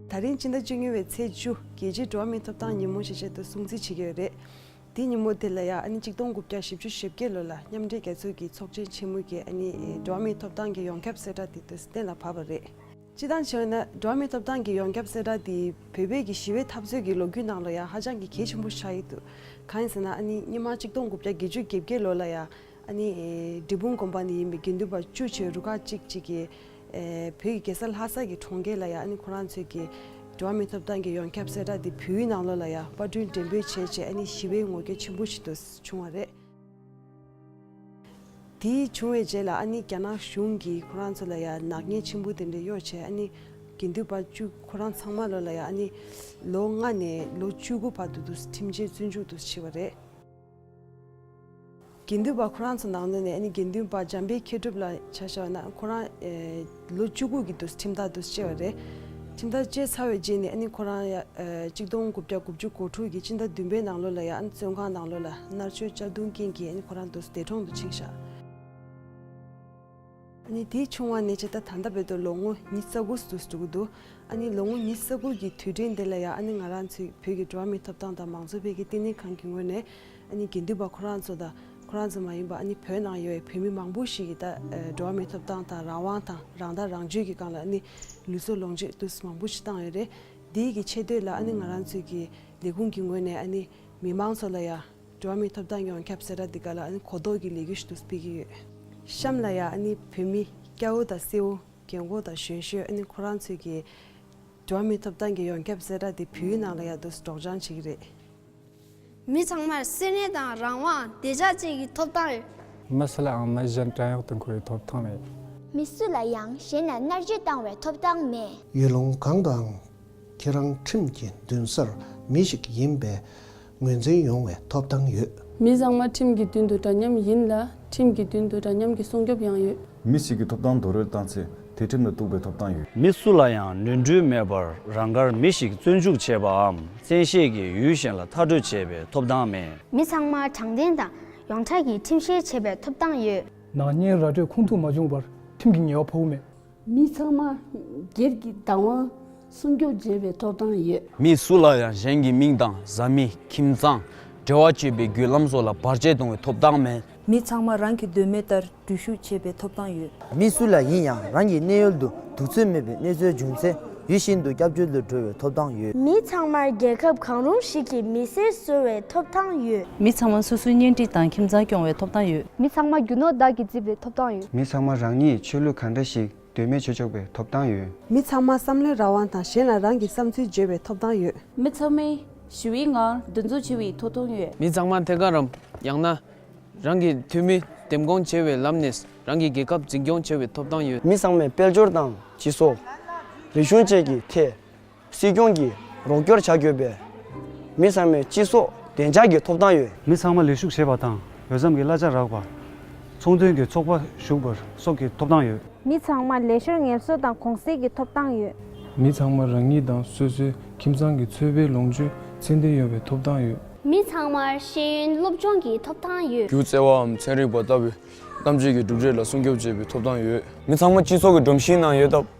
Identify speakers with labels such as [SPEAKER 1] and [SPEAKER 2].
[SPEAKER 1] ད་རིང་སྤྱི་ཟླ་བཅུ་ཉེ་བའི་ཚེས་བཅུ་རྒྱལ་སྤྱིའི་འགྲོ་བ་མིའི་ཐོབ་ཐང་ཉིན་མོ་ཞེས་བྱ་དེ་སྲུང་བརྩི་བྱེད་ཀྱི་ཡོད་རེད། དེ་ཉིན་མོ་དེ་ལ་ཡང་ཨ་ནི་གཅིག་སྟོང་དགུ་བརྒྱ་བཞི་བཅུ་ཞེ་བརྒྱད་ལོ་ལ་མཉམ་འབྲེལ་རྒྱལ་ཚོགས་ཀྱི་ཚོགས་ཆེན་ཆེན་མོ་དགེ་ཨ་ནི་འགྲོ་བ་མིའི་ཐོབ་ཐང་གི་ཡོངས་ཁྱབ་གསལ་བསྒྲགས་དེ་གཏན་ལ་ཕབ་པ་རེད། སྤྱི་དང་བྱས་ན་སྒྲོན་མེ་ཐོབ་ཐང་གི་ཡོངས་ཁྱབ་གསལ་བསྒྲགས་འདི་བོད་པའི་གི་ཞི་བའི་འཐབ་རྩོད་ཀྱི་ལོ་རྒྱུས་ནང་ལ་ཡང་ཧ་ཅང་གི་གལ་ཆེན་པོ་ཆགས་ཡི་འདུག་གང་ཡིན་ཟེར་ན་ཨ་ནི་སྙེ་མ་གཅིག་སྟོང་དགུ་བརྒྱ་བརྒྱད་ཅུ་བརྒྱད་བརྒྱད་ལོ་ལ་ཡང་ཨ་ནི་འབྲས་སྤུངས་དགོན་པ་ནི་ཡིན་པའི་དགེ་འདུན་པ་བཅུ་ཆེ་རུ་ཁག་གཅིག་ཅིག་གིས་བོད་ཀྱི་གེ་སར་ལྷ་ས་ཀྱི་གྲོང་ཁྱེར་ལ་ཡང་ཨ་ནི་ཁོ་རང་ཚོས་ཀྱི་སྒྲོན་མེ་ཐོབ་ཐང་གི་ཡོངས་ཁྱབ་གསལ་བསྒྲགས་འདི་བུའི་ནང་ལོ་ལ་ཡང་དཔར་སྐྲུན་འགྲེམས་སྤེལ་བྱས་རྗེས་ཨ་ནི་ཞི་བའི་ངོ་སྐལ་ཆེན་པོ་ཞིག་ཏུ་བྱུང་བ་རེད། དེ་བྱུང་བའི་རྗེས་ལ་ཨ་ནི་རྒྱ་ནག་གཞུང་གིས་ཁོ་རང་ཚོ་ལ་ཡང་ནག་ཉེས་ཆེན་པོ་དེ་འདྲ་གཡོག་བྱས་ཨ་ནི་དགེ་འདུན་པ་བཅུ་ཁོ་རང་ཚང་མ་ལོ་ལ་ཡང་ཨ་ནི་ལོ་ལྔ་ནས་ལོ་བཅུ་དགུ་བར་དུ་དུ་ཁྲིམས་ཆད་བཙོན་འཇུག་ཏུ་ཕྱིན་པ་རེད། དགེ་འདུན་པ་ཁོ་རང་ཚོ་ནང་ནས་ཨ་ནི་དགེ་འདུན་པ་འཇམ་དཔལ་མཁས་གྲུབ་ལ་བྱ་བཞག་ན་ཁོ་རང་ལོ་བཅུ་དགུ་གི་འདུ་ཁྲིམས་ཐག་ཏུ་བཅད་པ་རེད། ཁྲིམས་ཐག་བཅད་ཚར་བའི་རྗེས་ནས་ཁོ་རང་ཡང་གཅིག་སྟོང་དགུ་བརྒྱ་དགུ་བཅུ་གོ་དྲུག་གི་སྤྱི་ཟླ་བདུན་པའི་ནང་ལོ་ལ་ཡང་བཙོན་ཁང་ནང་ལོ་ལ་མནར་གཅོད་གཅར་རྡུང་རྐྱེན་གྱིས་ཁོ་རང་འདས་གྲོངས་དུ་ཕྱིན་བཞག། དེའི་ཆུང་མ་ནས་ཇི་ལྟར་ད་ལྟ་བོད་དུ་ལོ་ངོ་ཉིས་རྩ་དགུ་ཟུར་འཇུག་གི་འདུག་ལོ་ངོ་ཉིས་རྩ་དགུ་གི་དུས་དྲན་འདི་ལ་ཡང་ང་རང་ཚོའི་བོད་ཀྱི་འགྲོ་བ་མིའི་ཐོབ་ཐང་དང་མང་གཙོ་འཕེལ་རྒྱས་བརྟན་ལྷིང་གང་གི་ངོས་ནས་དགེ་འདུན་པ་ཁོ་རང་ཚོ་དང། ཁོ་རང་ཙམ་མ་ཡིན་པར་ཨ་ནི་བོད་ནང་ཡོད་པའི་བོད་མི་མང་པོ་ཞིག་གིས་ད་འགྲོ་བ་མིའི་ཐོབ་ཐང་དང་རང་དབང་དང་རང་ཐག་རང་གཅོད་ཀྱི་སྒང་ལ་ཨ་ནི་ལུས་སྲོག་ལོངས་སྤྱོད་བསྡུ་མང་པོ་ཞིག་བཏང་ཡོད་རེད། དེའི་གི་ཆེ་བསྟོད་ལ་ཨ་ནི་ང་རང་ཚོའི་གི་ལས་ཁུངས་ཀྱི་ངོས་ནས་ཨ་ནི་མི་མང་ཚོ་ལ་ཡང་འགྲོ་བ་མིའི་ཐོབ་ཐང་ཡོངས་ཁྱབ་ཟེར་ར་འདི་ག་ལ་ཨ་ནི་གོ་ལྡོག་གི་ལས་གུ་ཞིག་ཏུ་སྤེལ་གྱི་ཡོད། གཤམ་ལ་ཡང་ཨ་ནི་བོད་མི་སྐྱ་བོ་དང་སེར་བོ་རྒན་བཀོག་དང་གཞོན་ཤོས་ཨ་ནི་ཁོ་རང་ཚོའི་གི་འགྲོ་བ་མིའི་ཐོབ་ཐང་གི་ཡོངས་ཁྱབ་ཟེར་ར་འདི་བོད་ཡུལ་ནང་ལ་ཡང་དུ་སྒྲོག་སྦྱང་བྱེད་ཀྱི་རེད།
[SPEAKER 2] མི་ཚང་མར་སེར་སྣའི་དང་རང་དབང་བདེ་འཇགས་བཅས་ཀྱི་ཐོབ་ཐང་ཡོད། མི་སུ་ལའང་མི་
[SPEAKER 3] གཞན་བྲན་གཡོག་ཏུ་འཁུར་བའི་ཐོབ་ཐང་མེད། མི་སུ་ལ་
[SPEAKER 4] ཡང་གཞན་ལ་མནར་གཅོད་བཏང་བའི་ཐོབ་ཐང་མེད། ཡུལ་ལུང་གང་
[SPEAKER 5] དུའང་ཁྱེད་རང་ཁྲིམས་ཀྱི་མདུན་སར་མི་ཞིག་ཡིན་པའི་ངོས་འཛིན་ཡོང་བའི་ཐོབ་ཐང་ཡོད། མི་ཚང་མ་ཁྲིམས་
[SPEAKER 6] ཀྱི་མདུན་དུ་འདྲ་མཉམ་ཡིན་ལ་ཁྲིམས་ཀྱི་མདུན་དུ་འདྲ་མཉམ་གྱི་སྲུང་སྐྱོབ་ཡང་ཡོད། མི་ཞིག་གི་ཐོབ་ཐང་
[SPEAKER 7] རྡོལ་རོལ་བཏང་ཚེ་དེ་ཁྲིམས་ལ་གཏུགས་པའི་ཐོབ་ཐང་ཡོད། མི་སུ་ལ་ཡང་ནོན་
[SPEAKER 8] འཁྲུལ་མེད་པར་རང་དགར་མི་ཞིག་བཙོན་འཇུག་བྱེད་པའམ་བཙན་ཤེད་ཀྱིས་ཡུལ་གཞན་ལ་མཐར་སྐྲོད་བྱེད་པའི་ཐོབ་ཐང་མེད། མི་ཚང་མར་དྲང་
[SPEAKER 4] བདེན་དང་ཡོངས་གྲགས་ཀྱིས་ཁྲིམས་བཤེར་བྱེད་པའི་ཐོབ་ཐང་ཡོད། ནག་ཉེས་ར་སྤྲོད་
[SPEAKER 3] ཁུངས་ཐུབ་མ་བྱུང་བར་ཁྲིམས་ཀྱི་ངལ་བ་ཕོག་གི་མེད། མི་ཚང་མར་
[SPEAKER 6] སྒེར་གྱི་བདག་དབང་སྲུང་སྐྱོབ་བྱེད་པའི་ཐོབ་ཐང་ཡོད། མི་སུ་ལ་ཡང་གཞན་
[SPEAKER 8] གྱི་མིང་དང་བཟའ་མི། ཁྱིམ་ཚང། འབྲེལ་བ་གཅོད་པའི་བརྒྱུད་ལམ་སོགས་ལ་བར་ཆད་གཏོང་བའི་ཐོབ་ཐང་མེད། མི་ཚང་མ་རང་གི་
[SPEAKER 9] འདོད་མོས་ལྟར་འགྲུལ་ཞུགས་བྱེད་པའི་ཐོབ་ཐང་ཡོད། མི་སུ་ལ་ཡིན་ཡང་
[SPEAKER 10] རང་གི་གནས་ཡུལ་དུ་དུག་ཚོད་མེད་པའི་གནས་ཚུལ་བྱུང་ཚེ་ཡུལ་ཤིན་ཏུ་སྐྱབས་བཅོལ་དུ་འགྲོ་བའི་ཐོབ་ཐང་ཡོད། མི་ཚང་མར་རྒྱལ་
[SPEAKER 4] ཁབ་གང་རུང་ཞིག་གི་མི་སེར་བཟོ་བའི་ཐོབ་ཐང་ཡོད། མི་ཚང་མ་སོ་སོའི་
[SPEAKER 9] གཉེན་སྒྲིག་དང་ཁྱིམ་ཚང་སྐྱོང་བའི་ཐོབ་ཐང་ཡོད། མི་ཚང་མ་རྒྱུ་ནོར་བདག་
[SPEAKER 4] གིས་བརྩིས་པའི་ཐོབ་ཐང་ཡོད། མི་ཚང་མ་རང་ཉིད་
[SPEAKER 11] ཆོས་ལུགས་གང་འདྲ་ཞིག་དོན་མེད་བྱེད་ཆོག་པའི་ཐོབ་ཐང་ཡོད། མི་ཚང་མ་བསམ་བློའི་
[SPEAKER 1] རང་དབང་དང་གཞན་ལ་རང་གི་བསམ་ཚུལ་བརྗོད་པའི་ཐོབ་ཐང་ཡོད། མི་ཚང་མས་
[SPEAKER 6] ཞི་བའི་ངང་འདུ་འཛོམས་བྱེད་པའི་ཐོབ་ཐང་ཡོད། མི་ཚང་མ་ཐད་ཀར་རམ་
[SPEAKER 12] ཡང་ན་རང་གི་འཐུས་མི་འདེམས་བསྐོང་བྱེད་པའི་ལམ་ནས་རང་གི་རྒྱལ་ཁབ་འཛིན་སྐྱོང་བྱེད་པའི་ཐོབ་ཐང་ཡོད། མི་ཚང་མས་དཔལ་འབྱོར་དང་
[SPEAKER 10] སྤྱི་ཚོགས། རིག་གཞུང་བཅས་ཀྱི་ཐད་སྲིད་སྐྱོང་གིས་རོགས་སྐྱོར་བྱ་དགོས་པའི། མི་ཚང་མའི་སྤྱི་སོགས་བདེ་འཇགས་ཀྱི་ཐོབ་ཐང་ཡོད། མི་ཚང་མ་ལས་ཞུགས་བྱེད་པ་
[SPEAKER 3] དང་འོས་འཚམ་གྱི་གླ་ཆ་རག་པ། ཚོང་དོན་གྱི་ཚོགས་པ་ཞུགས་པ་སོགས་ཀྱི་ཐོབ་ཐང་ཡོད། མི་ཚང་མ་ལས་ཤོར་
[SPEAKER 4] ངལ་གསོ་དང་གོང་སེལ་གྱི་ཐོབ་ཐང་ཡོད། མི་ཚང་མར་རང་
[SPEAKER 3] ཉིད་དང་སོ་སོའི་ཁྱིམ་ཚང་གི་འཚོ་བའི་ལོངས་སྤྱོད་ཚད་ལྡན་ཡོང་བའི་ཐོབ་ཐང་ཡོད། མི་ཚང་མར་
[SPEAKER 4] ཤེས་ཡོན་སློབ་སྦྱོང་གི་ཐོབ་ཐང་ཡོད། སྒྱུ་རྩལ་བའམ་ཚན་རིག་
[SPEAKER 12] པ་ལྟ་བུའི་གཏམ་བརྗོད་ཀྱི་གྲུབ་འབྲས་ལ་སྲུང་སྐྱོབ་བྱེད་པའི་ཐོབ་ཐང་ཡོད། མི་ཚང་མ་སྤྱི་ཚོགས་ཀྱི་སྒྲོམ་གཞིའི་ནང་ཡོད་སྟབས།